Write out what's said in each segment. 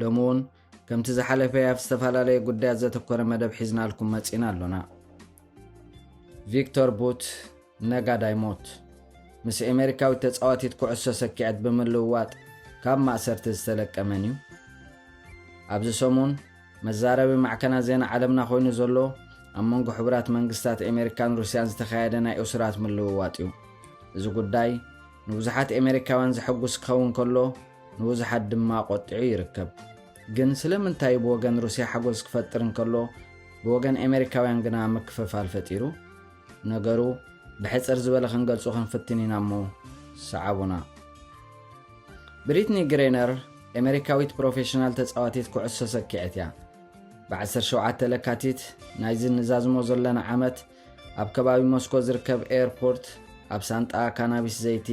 ሎሚ እውን ከምቲ ዝሓለፈ ኣብ ዝተፈላለየ ጉዳያት ዘተኮረ መደብ ሒዝናልኩም መፂና ኣሎና ቪክቶር ቡት ነጋዳይ ሞት ምስ ኤሜሪካዊት ተፃዋቲት ኩዕሶ ሰኪዐት ብምልውዋጥ ካብ ማእሰርቲ ዝተለቀ መን እዩ ኣብዚ ሰሙን መዛረቢ ማዕከና ዜና ዓለምና ኮይኑ ዘሎ ኣብ መንጎ ሕቡራት መንግስታት ኤሜሪካን ሩስያን ዝተኻየደ ናይ እሱራት ምልውዋጥ እዩ እዚ ጉዳይ ንብዙሓት ኤሜሪካውያን ዘሐጉስ ክኸውን ከሎ ንብዙሓት ድማ ኣቖጢዑ ይርከብ። ግን ስለምንታይ ብወገን ሩስያ ሓጎስ ክፈጥር እንከሎ ብወገን ኤመሪካውያን ግና ምክፍፋል ፈጢሩ? ነገሩ ብሕጽር ዝበለ ክንገልጹ ክንፍትን ኢና እሞ ሰዓቡና። ብሪትኒ ግሬነር ኤመሪካዊት ፕሮፌሽናል ተጻዋቲት ኩዕሶ ሰኪዐት እያ። ብ17 ለካቲት ናይዚ ንዛዝሞ ዘለና ዓመት ኣብ ከባቢ ሞስኮ ዝርከብ ኤርፖርት ኣብ ሳንጣ ካናቢስ ዘይቲ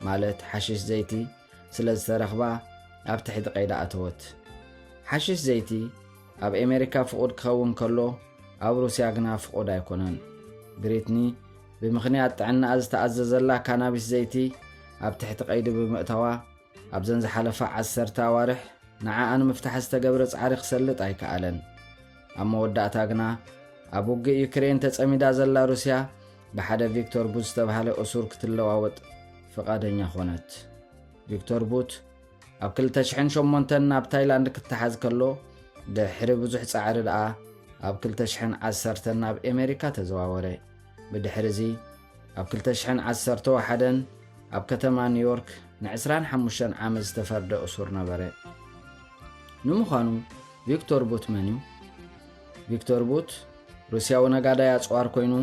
ማለት ሓሽሽ ዘይቲ ስለ ዝተረኽባ ኣብ ትሕቲ ቀይዳ ኣተወት። ሓሽሽ ዘይቲ ኣብ ኣሜሪካ ፍቑድ ክኸውን ከሎ ኣብ ሩስያ ግና ፍቑድ ኣይኮነን። ብሪትኒ ብምኽንያት ጥዕናኣ ዝተኣዘዘላ ካናቢስ ዘይቲ ኣብ ትሕቲ ቀይዲ ብምእታዋ ኣብዘን ዝሓለፋ ዓሰርተ ኣዋርሕ ንዓኣ ንምፍታሕ ዝተገብረ ጻዕሪ ክሰልጥ ኣይከኣለን። ኣብ መወዳእታ ግና ኣብ ውግእ ዩክሬን ተጸሚዳ ዘላ ሩስያ ብሓደ ቪክቶር ቡት ዝተብሃለ እሱር ክትለዋወጥ ፍቓደኛ ዀነት። ቪክቶር ቡት ኣብ 2008 ናብ ታይላንድ ክተሓዝ ከሎ ድሕሪ ብዙሕ ጻዕሪ ደኣ ኣብ 2010 ናብ ኤመሪካ ተዘዋወረ። ብድሕሪ እዚ ኣብ ክልተ ሽሕን ዓሰርተ ወሓደን ኣብ ከተማ ኒውዮርክ ንዕስራን ሓሙሽተን ዓመት ዝተፈርደ እሱር ነበረ ንምዃኑ ቪክቶር ቡት መን እዩ ቪክቶር ቡት ሩስያዊ ነጋዳይ ኣፅዋር ኮይኑ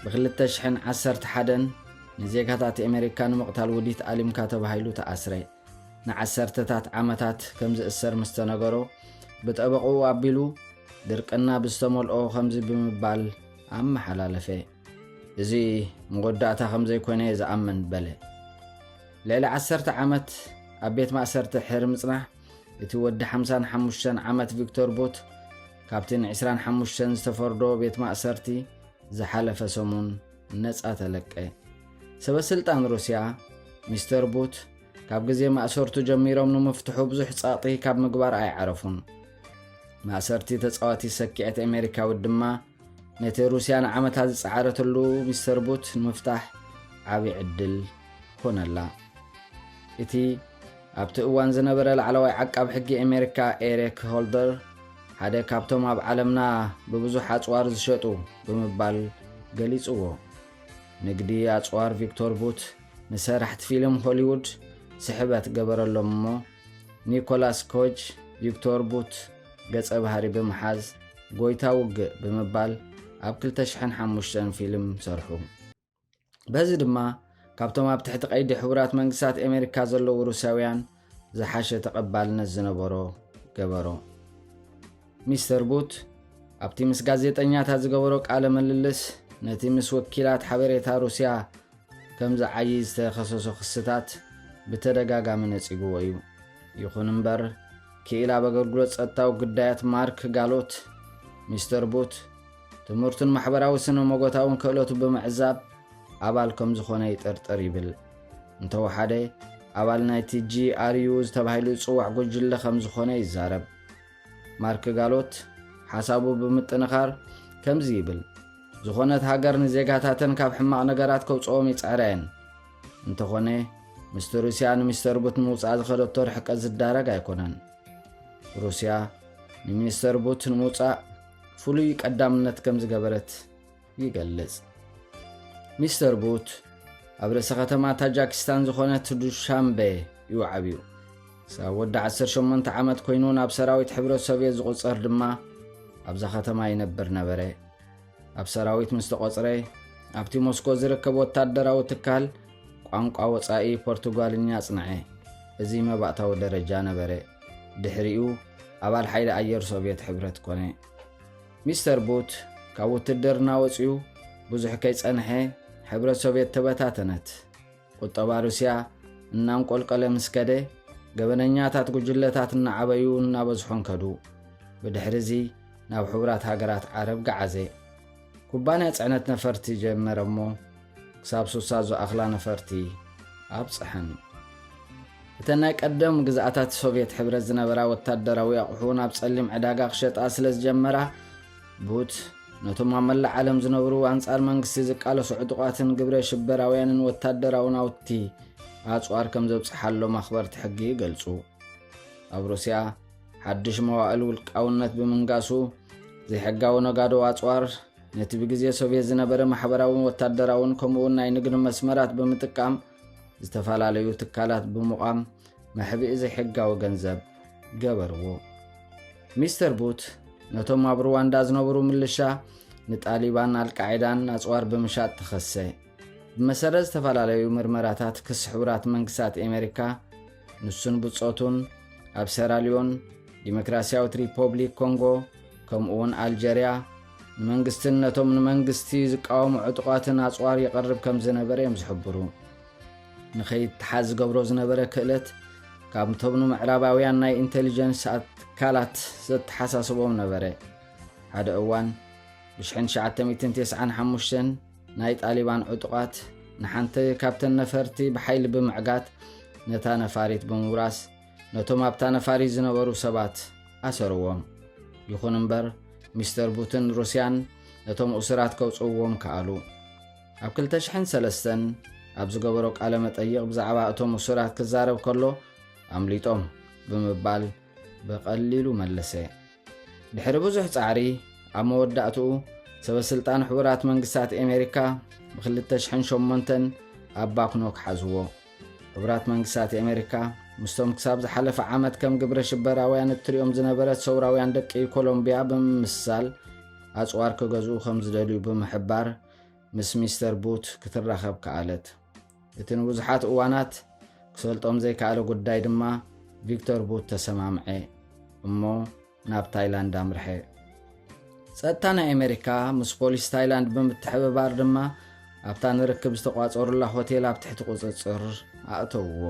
ብክልተ ሽሕን ዓሰርተ ሓደን ንዜጋታት ኣሜሪካ ንምቕታል ውዲት ኣሊምካ ተባሂሉ ተኣስረ ንዓሰርተታት ዓመታት ከም ዝእሰር ምስ ተነገሮ ብጠበቕኡ ኣቢሉ ድርቅና ብዝተመልኦ ከምዚ ብምባል ኣመሓላለፈ። እዚ መወዳእታ ከም ዘይኮነ እየ ዝኣምን በለ። ልዕሊ ዓሰርተ ዓመት ኣብ ቤት ማእሰርቲ ሕሪ ምጽናሕ እቲ ወዲ ሓምሳን ሓሙሽተን ዓመት ቪክቶር ቡት ካብቲ ንዕስራን ሓሙሽተን ዝተፈርዶ ቤት ማእሰርቲ ዝሓለፈ ሰሙን ነጻ ተለቀ። ሰበስልጣን ሩስያ ሚስተር ቡት ካብ ግዜ ማእሰርቱ ጀሚሮም ንምፍትሑ ብዙሕ ጸቕጢ ካብ ምግባር ኣይዓረፉን። ማእሰርቲ ተጻዋቲ ሰኪዐት ኣሜሪካዊት ድማ ነቲ ሩስያ ንዓመታት ዝጸዓረትሉ ሚስተር ቡት ንምፍታሕ ዓብዪ ዕድል ኮነላ። እቲ ኣብቲ እዋን ዝነበረ ላዕለዋይ ዓቃብ ሕጊ ኣሜሪካ ኤሪክ ሆልደር ሓደ ካብቶም ኣብ ዓለምና ብብዙሕ ኣጽዋር ዝሸጡ ብምባል ገሊጽዎ ንግዲ ኣጽዋር ቪክቶር ቡት ንሰራሕቲ ፊልም ሆሊውድ ስሕበት ገበረሎም እሞ ኒኮላስ ኮጅ ቪክቶር ቡት ገጸ ባህሪ ብምሓዝ ጎይታ ውግእ ብምባል ኣብ 2005 ፊልም ሰርሑ። በዚ ድማ ካብቶም ኣብ ትሕቲ ቀይዲ ሕቡራት መንግስታት ኣሜሪካ ዘለዉ ሩስያውያን ዝሓሸ ተቐባልነት ዝነበሮ ገበሮ። ሚስተር ቡት ኣብቲ ምስ ጋዜጠኛታት ዝገበሮ ቃለ ምልልስ ነቲ ምስ ወኪላት ሓበሬታ ሩስያ ከም ዝዓዪ ዝተኸሰሶ ክስታት ብተደጋጋሚ ነጺግዎ እዩ። ይኹን እምበር ክኢል ኣብ ኣገልግሎት ጸጥታዊ ግዳያት ማርክ ጋሎት ሚስተር ቡት ትምህርቱን ማሕበራዊ ስነ ሞጎታውን ክእለቱ ብምዕዛብ ኣባል ከም ዝኾነ ይጥርጥር ይብል። እንተወሓደ ኣባል ናይቲ ጂኣርዩ ዝተባሂሉ ዝጽዋዕ ጉጅለ ከም ዝኾነ ይዛረብ ማርክ ጋሎት ሓሳቡ ብምጥንኻር ከምዚ ይብል ዝኾነት ሃገር ንዜጋታተን ካብ ሕማቕ ነገራት ከውፅኦም ይፅዕራ እየን እንተኾነ ምስቲ ሩስያ ንሚስተር ቡት ንምውፃእ ዝኸደቶ ርሕቀት ዝዳረግ ኣይኮነን ሩስያ ንሚኒስተር ቡት ንምውፃእ ፍሉይ ቀዳምነት ከም ዝገበረት ይገልጽ። ሚስተር ቡት ኣብ ርእሰ ከተማ ታጃኪስታን ዝኾነት ዱሻምበ እዩ ዓብዩ። ክሳብ ወዲ 18 ዓመት ኮይኑ ናብ ሰራዊት ሕብረት ሶቭየት ዝቝጸር ድማ ኣብዛ ከተማ ይነብር ነበረ። ኣብ ሰራዊት ምስ ተቖጽረ ኣብቲ ሞስኮ ዝርከብ ወታደራዊ ትካል ቋንቋ ወጻኢ ፖርቱጋልኛ ጽንዐ። እዚ መባእታዊ ደረጃ ነበረ። ድሕሪኡ ኣባል ሓይሊ ኣየር ሶቭየት ሕብረት ኮነ። ሚስተር ቡት ካብ ውትድርና ወጺኡ ብዙሕ ከይጸንሐ ሕብረት ሶቭየት ተበታተነት። ቁጠባ ሩስያ እናንቆልቀለ ምስ ከደ ገበነኛታት ጉጅለታት እናዓበዩ እናበዝሖን ከዱ ብድሕሪ እዚ ናብ ሕቡራት ሃገራት ዓረብ ገዓዘ ኩባንያ ፅዕነት ነፈርቲ ጀመረ እሞ ክሳብ ሱሳ ዝኣኽላ ነፈርቲ ኣብጽሐን። እተን ናይ ቀደም ግዝኣታት ሶቭየት ሕብረት ዝነበራ ወታደራዊ ኣቑሑ ናብ ጸሊም ዕዳጋ ክሸጣ ስለ ዝጀመራ ቡት ነቶም ኣብ መላእ ዓለም ዝነብሩ ኣንጻር መንግስቲ ዝቃለሱ ዕጡቓትን ግብረ ሽበራውያንን ወታደራዊ ናውቲ ኣጽዋር ከም ዘብጽሓሎም ኣኽበርቲ ሕጊ ይገልጹ ኣብ ሩስያ ሓድሽ መዋእል ውልቃውነት ብምንጋሱ ዘይሕጋዊ ነጋዶ ኣጽዋር ነቲ ብግዜ ሶቭየት ዝነበረ ማሕበራውን ወታደራውን ከምኡውን ናይ ንግዲ መስመራት ብምጥቃም ዝተፈላለዩ ትካላት ብምቛም መሕብኢ ዘይሕጋዊ ገንዘብ ገበርዎ ሚስተር ቡት ነቶም ኣብ ሩዋንዳ ዝነብሩ ምልሻ ንጣሊባን ኣልቃዒዳን ኣፅዋር ብምሻጥ ተኸሰ ብመሰረት ዝተፈላለዩ ምርመራታት ክሲ ሕቡራት መንግስታት ኣሜሪካ ንሱን ብጾቱን ኣብ ሴራልዮን፣ ዲሞክራስያዊት ሪፖብሊክ ኮንጎ፣ ከምኡውን ኣልጀርያ ንመንግስትን ነቶም ንመንግስቲ ዝቃወሙ ዕጡቓትን ኣጽዋር ይቐርብ ከም ዝነበረ እዮም ዝሕብሩ ንኸይተሓዝ ዝገብሮ ዝነበረ ክእለት ካብቶም ንምዕራባውያን ናይ ኢንቴሊጀንስ ኣትካላት ዘተሓሳስቦም ነበረ ሓደ እዋን ብ1995 ናይ ጣሊባን ዕጡቓት ንሓንቲ ካብተን ነፈርቲ ብሓይሊ ብምዕጋት ነታ ነፋሪት ብምውራስ ነቶም ኣብታ ነፋሪት ዝነበሩ ሰባት ኣሰርዎም ይኹን እምበር ሚስተር ቡትን ሩስያን ነቶም እሱራት ከውፅእዎም ከኣሉ ኣብ 203 ኣብ ዝገበሮ ቃለ መጠይቕ ብዛዕባ እቶም እሱራት ክዛረብ ከሎ ኣምሊጦም ብምባል ብቐሊሉ መለሰ ድሕሪ ብዙሕ ጻዕሪ ኣብ መወዳእትኡ ሰበስልጣን ሕቡራት መንግስታት ኣሜሪካ ብ2008 ኣብ ባክኖክ ሓዝዎ ሕቡራት መንግስታት ኣሜሪካ ምስቶም ክሳብ ዝሓለፈ ዓመት ከም ግብረ ሽበራውያን እትሪኦም ዝነበረት ሰውራውያን ደቂ ኮሎምብያ ብምምስሳል ኣፅዋር ክገዝኡ ከም ዝደልዩ ብምሕባር ምስ ሚስተር ቡት ክትራኸብ ከኣለት። እቲ ንብዙሓት እዋናት ክሰልጦም ዘይከኣለ ጉዳይ ድማ ቪክቶር ቡት ተሰማምዐ እሞ ናብ ታይላንድ ኣምርሐ። ጸጥታ ናይ ኣሜሪካ ምስ ፖሊስ ታይላንድ ብምትሕብባር ድማ ኣብታ ንርክብ ዝተቋጸሩላ ሆቴል ኣብ ትሕቲ ቁጽጽር ኣእተውዎ።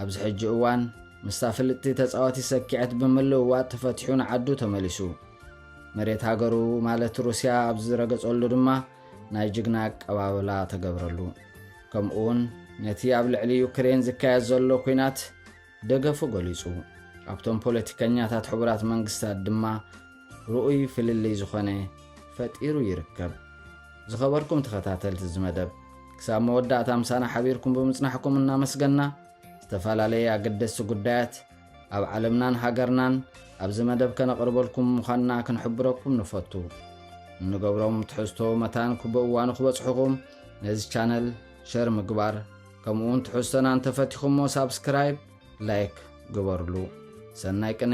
ኣብዚ ሕጂ እዋን ምስታ ፍልጥቲ ተጻወቲ ሰኪዐት ብምልውዋጥ ተፈቲሑ ንዓዱ ተመሊሱ መሬት ሃገሩ ማለት ሩስያ ኣብ ዝረገጸሉ ድማ ናይ ጅግና ኣቀባብላ ተገብረሉ ከምኡውን ነቲ ኣብ ልዕሊ ዩክሬን ዝካየድ ዘሎ ኩናት ደገፉ ገሊጹ ኣብቶም ፖለቲከኛታት ሕቡራት መንግስታት ድማ ርኡይ ፍልልይ ዝኾነ ፈጢሩ ይርከብ። ዝኸበርኩም ተኸታተልቲ እዚ መደብ ክሳብ መወዳእታ ምሳና ሓቢርኩም ብምጽናሕኩም እናመስገና ዝተፈላለየ ኣገደስቲ ጉዳያት ኣብ ዓለምናን ሃገርናን ኣብዚ መደብ ከነቕርበልኩም ምዃንና ክንሕብረኩም ንፈቱ እንገብሮም ትሕዝቶ መታን ክብእዋኑ ክበጽሑኹም ነዚ ቻነል ሸር ምግባር ከምኡውን ትሕዝቶና እንተፈቲኹሞ ሳብስክራይብ ላይክ ግበርሉ ሰናይ ቅነ